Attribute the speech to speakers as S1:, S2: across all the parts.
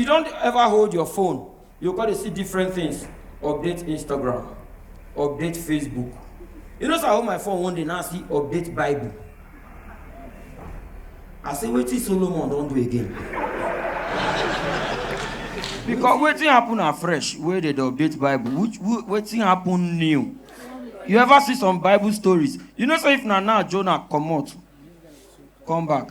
S1: you don ever hold your phone you go dey see different things update instagram update facebook you know say i hold my phone one day now i see update bible i say wetin solomon don do again because wetin happen afresh wey dey dey update bible which wetin happen new you ever see some bible stories you know say if na now jonah comot come back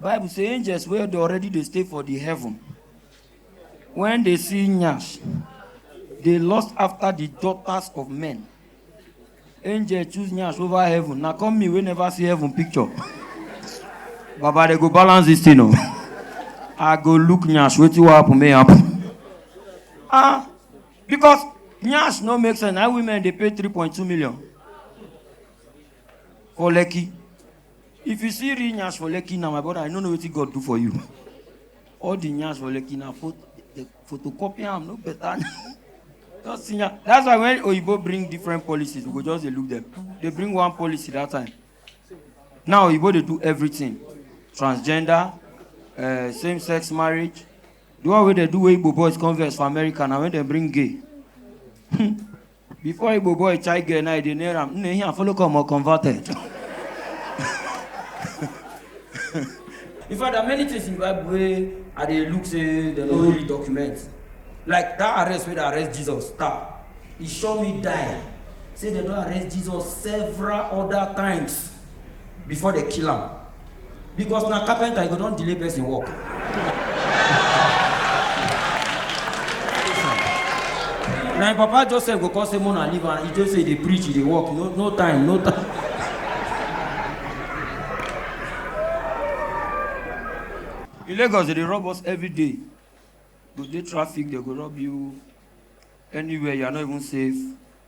S1: bible say angels wey dey already dey stay for the heaven when they see nyash they lust after the daughters of men angel choose nyash over heaven na come me wey never see heaven picture baba they go balance this thing o i go look nyash wetin wan happen may happen ah because nyash no make sense na women dey pay three point two million for lekki If you see real nyash for Lekki now, my brother, I no know wetin God do for you. All the nyash for Lekki now, pho- the photocopy am no better. just see nya- That's why when Oyibo bring different policies, we go just dey look them. They bring one policy that time. Now Oyibo dey do everything. Transgender, uh, same-sex marriage. The one wey dey do wey Igbo boys converse for America na when dem bring gay. Before Igbo boy chai girl now, they near him. Nne here follow come or converted. In fact, there are many things in Bible where I dey look say they no really document. Like that arrest where they arrest Jesus, star. He show me die. Say they don arrest Jesus several other times before they kill am. because na carpenter you go don delay person work. na im papa joseph go come say mona leave am he just say dey preach he dey work no no time no time. in lagos they dey rob us every day go dey traffic they go rob you anywhere you are not even safe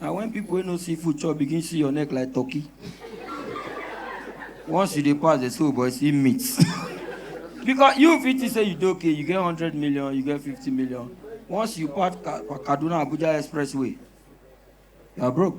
S1: na when people wey no see food chop begin see your neck like turkey once you dey pass dey say oh boy see meat because you fit think say you dey okay you get hundred million you get fifty million once you pass Ka- kaduna abuja expressway you are broke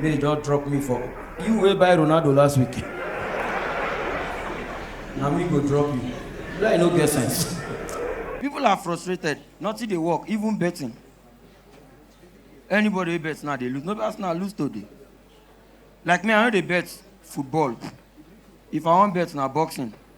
S1: May they just drop me for you wey buy Ronaldo last week. Na me go drop you. Lie no get sense. People are frustrated. Nothing dey work, even betting. Anybody wey bet now dey lose. No be Arsenal lose today. Like me, I no dey bet football. If I wan bet na boxing.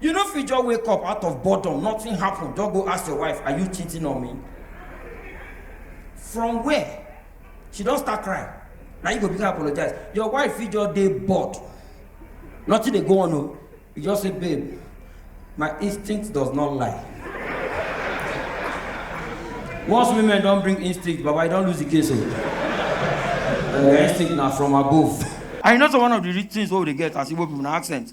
S1: You no fit just wake up out of boredom, nothing happen, just go ask your wife, are you cheating on me? From where? She don start crying. Na you go begin apologize. Your wife fit just dey bored. Nothing dey go on o. You just say, babe, my instinct does not lie. Once women don bring instinct, baba, you don lose the case o. Uh, instinct na from above. And you know so one of the rich things wey we dey get as Igbo people na accent.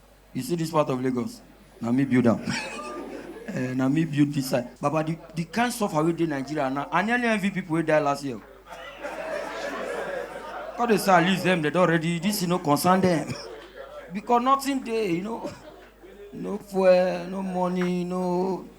S1: You see this part of Lagos? Na me build am. Eh, na me build this side. Baba, the, the kind suffer wey dey Nigeria now, I nearly envy people wey die last year. Because they say at least them, they don already, this you know, concern them. Because nothing dey, you know. No fuel, no money, no